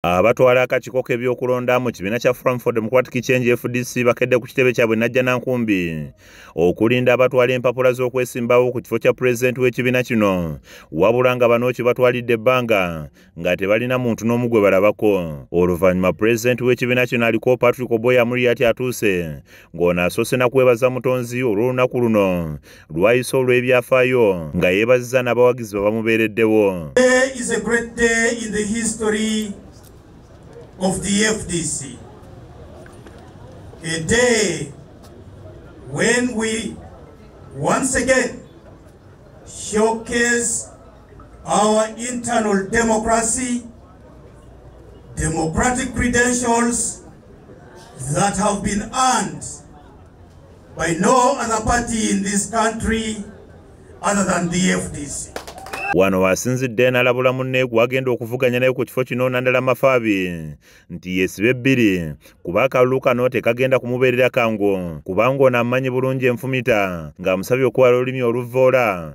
Abatwala akakiiko k'ebyokulonda mu kibiina kya Forum for Democratic Change FDC bakedde ku kitebe kyabwe najja na nkumbi okulinda abatwala empapula z'okwesimbawo ku kifo kya pulezidenti w'ekibiina kino wabula nga banooki batwalidde ebbanga nga tebalina muntu n'omu gwe balabako oluvannyuma pulezidenti w'ekibiina kino aliko Patrick Oboya Amuriat atuuse ng'ono asoose na kwebaza mutonzi olw'olunaku luno lwayise olw'ebyafaayo nga yeebazizza n'abawagizi bwe bamubeereddewo Once again, showcase our internal democracy, democratic credentials that have been earned by no other party in this country other than the FDC. Wano wasinzidde nalabula munne gwagenda okuvuganya naye ku kifo kino nandala mafaabi nti yesibe bbiri kuba akalulu kano tekagenda kumubeerera kangu kubanga ono amanyi bulungi enfumita ng'amusabye okuwala olulimi oluvvoola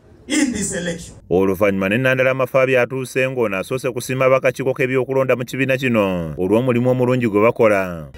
in this election. oluvannyuma ne nandala amafaabi atuuse ng'ono asoose kusiima bakakiiko k'ebyokulonda mu kibiina kino olw'omulimu omulungi gwe bakola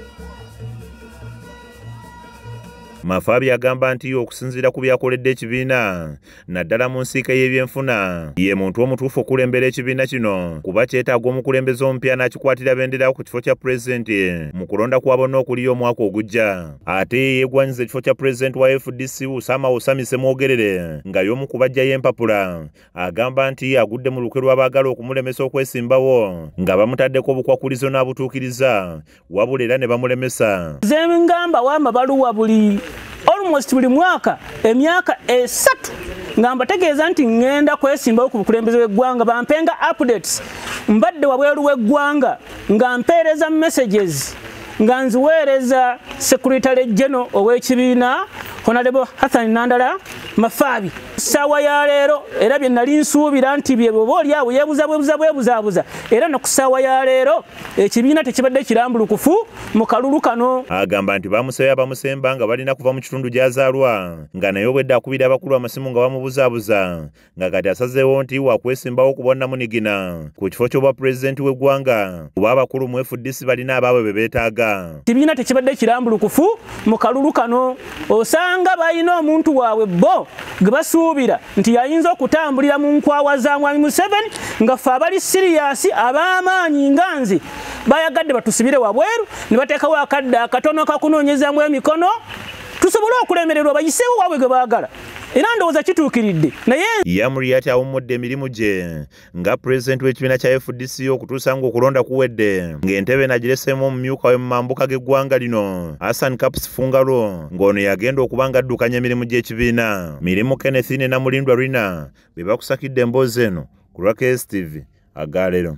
mafaabi agamba nti okusinziira ku byakoledde ekibiina naddala mu nsiika y'ebyenfuna ye muntu omutuufu okulembera ekibiina kino kuba kyetaaga omukulembeze omupya n'akikwatira benderawo ku kifo kya pulezidenti mu kulonda kwa bonna okuliyo omwaka ogujja ate yeegwanyiza ekifo kya pulezidenti wa fdc usama usami semwogerere nga y'omu ku bajjayo empapula agamba nti agudde mu lukwe lw'abaagala okumulemesa okwesimbawo nga bamutaddeko obukwakulizo n'abutuukiriza wabula era ne bamulemesa zengamba wamba baluwa buli almost buli mwaka emyaka esatu nga mbategeeza nti ŋŋenda kwesimbawo ku bukulembeze bw'eggwanga bampenga updates mbadde wabweru w'eggwanga nga mpeereza messages nga nziweereza sekuritale jeno ow'ekibiina honalebo hathani nandala mafaabi ssaawa ya leero era bye nali nsuubira nti bye bwoba oli awo yeebuza bwebuza bwebuzaabuza era ne ku ssaawa ya leero ekibiina tekibadde kirambulukufu mu kalulu kano agamba nti bamusayo abamusemba nga balina kuva mu kitundu gy'azaalwa nga naye obwedde akubira abakulu amasimu nga bamubuzaabuza nga kati asazeewo nti wakwesimbawo ku bwannamunigina ku kifo ky'obwa pulezidenti w'eggwanga kuba abakulu mu fdc balina abaabwe be beetaaga kibiina tekibadde kirambulukufu mu kalulu kano osanga balina omuntu waabwe bo gwe basuubira nti yayinza okutambulira mu nkwawa za mwami museveni nga ffe abali siriyasi ab'amaanyi nga nze bayagadde batusibire wabweru ne bateekawo akadde akatono kakunoonyezamu emikono tusobole okulemererwa bayiseewo waabwe gwe baagala era ndowooza kituukiridde naye yamuriat awummudde emirimu gye nga pulezidenti w'ekibiina kya fdc okutuusa ng'okulonda kuwedde ng'entebe nagireseemu omumyuka we mu mambuka g'eggwanga lino hassan caps fungalo ng'ono yagenda okuba nga addukanya emirimu gy'ekibiina mirimu kennethine namulindwa rina be bakusakidde emboozi eno ku lwa kstv agaalero